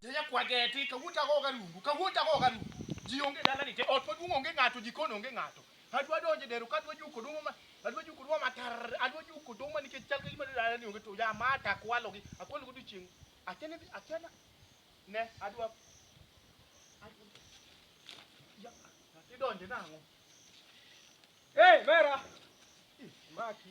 Yeye kwa geti ka wuta go garungu ka wuta go garungu ji onge dala ni te ot maduong onge ng'ato jikon onge ng'ato adwa donje dero ka adwa juko duma ma adwa juko duma matar adwa juko duma nikech chal kagima dala ni onge to ya mata akwalo gi akwalo go dichieng achene achena ne adwa idonje nang'o eh mera maki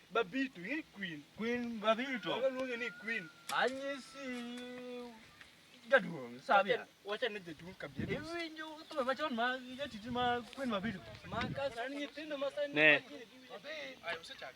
Babito, in queen. Queen Babito. Wala luonge ni queen. Anyisi jaduong' sabia. Wacha ne jaduong' kabisa. Iwinjo thumbe machon ma jatiti ma queen Babito. Ma ka sani nyithindo ma sani. Ne. Ayo usechak.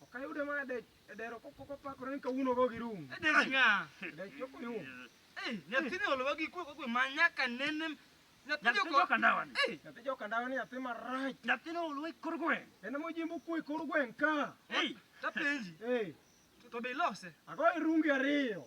Ok ayude mana dech e dero kopok opakore ni kawuono go gi rum. E dero nga. Dech ok oyum. Eh, nyathini olowa gi kwe kokwe ma nyaka nene nyathi joka ndawa ni. Eh, nyathi joka ndawa ni nyathi marach. Nyathini olowa kor gweng. En mo jimbo kwe kor gweng ka. Eh, tapenji. Eh. To be ilose? Ago irungi ariyo.